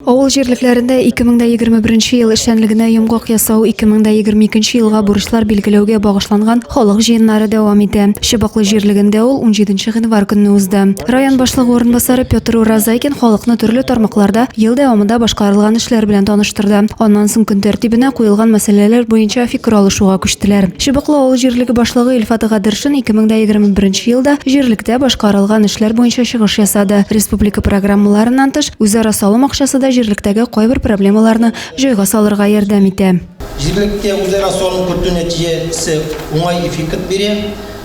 Авыл җирлекләрендә 2021 ел эшчәнлегенә йомгак ясау 2022 елга бурычлар билгеләүгә багышланган халык җыеннары дәвам итә. Чыбыклы җирлегендә ул 17 гыйнвар көнне узды. Район башлыгы урынбасары Петр Уразайкин халыкны төрле тармакларда ел дәвамында башкарылган эшләр белән таныштырды. Аннан соң көн тәртибенә куелган мәсьәләләр буенча фикер алышуга күчтеләр. Чыбыклы авыл җирлеге башлыгы Илфат Гадершин 2021 елда җирлектә башкарылган эшләр буенча чыгыш ясады, республика программаларыннан тыш, Үзара салым акчасы да җирлектәге кайбер проблемаларны җайга салырга ярдәм итә. Җирлектә үзара салым кертү нәтиҗәсе уңай эффект бирә.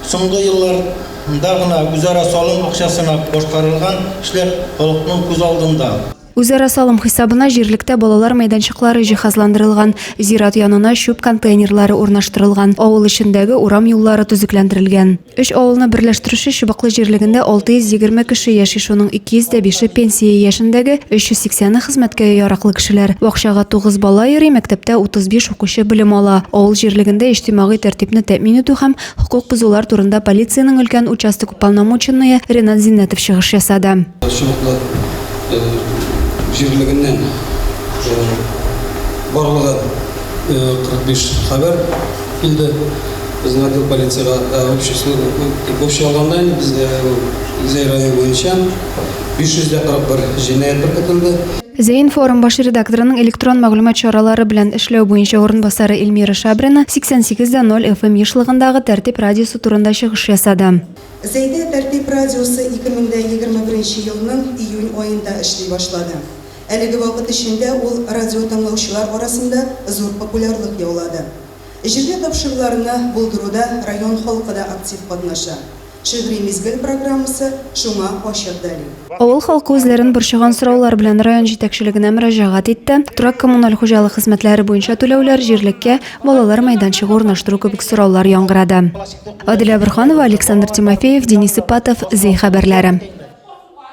Соңгы елларда гына үзара салым акчасына башкарылган эшләр халыкның күз алдында. Үзара салым хисабына җирлектә балалар мәйданчыклары җиһазландырылган, зират янына чүп контейнерлары урнаштырылган, авыл эчендәге урам юллары төзекләндерелгән. Өч авылны берләштерүче Чыбыклы җирлегендә 620 кеше яши, шуның 205-е пенсия яшендәге, 380-е хезмәткә яраклы кешеләр. Бакчага 9 бала йөри, мәктәптә 35 укучы белем ала. Авыл җирлегендә иҗтимагый тәртипне тәэмин итү һәм хокук бозулар турында полициянең өлкән участок уполномоченные Ренат Зиннәтов чыгыш ясады. Чыбыклы җирлегеннән барлыгы 45 хәбәр. Килде. Безнең отдел полициягә общий алганда инде безгә Зәй районы буенча 541 җинаять беркетелде. Зәинформ баш редакторының электрон мәгълүмат чаралары белән эшләү буенча урынбасары Эльмира Шабрина 88,0 FM ешлыгындагы Тәртип радиосы турында чыгыш ясады. Зәйдә Тәртип радиосы 2021 елның июнь аенда эшли башлады. Әлеге вакыт эчендә ул радиотыңлаучылар арасында зур популярлык яулады. Җирле тапшыруларны булдыруда район халкы да актив катнаша. Шигъри мизгел программасы шуңа ачык дәлил. Авыл халкы үзләрен борчыган сораулар белән район җитәкчелегенә мөрәҗәгать итте, торак-коммуналь хуҗалык хезмәтләре буенча түләүләр, җирлеккә балалар мәйданчыгы урнаштыру кебек сораулар яңгырады. Адилә Борһанова, Александр Тимофеев, Денис Ипатов, Зәй хәбәрләре.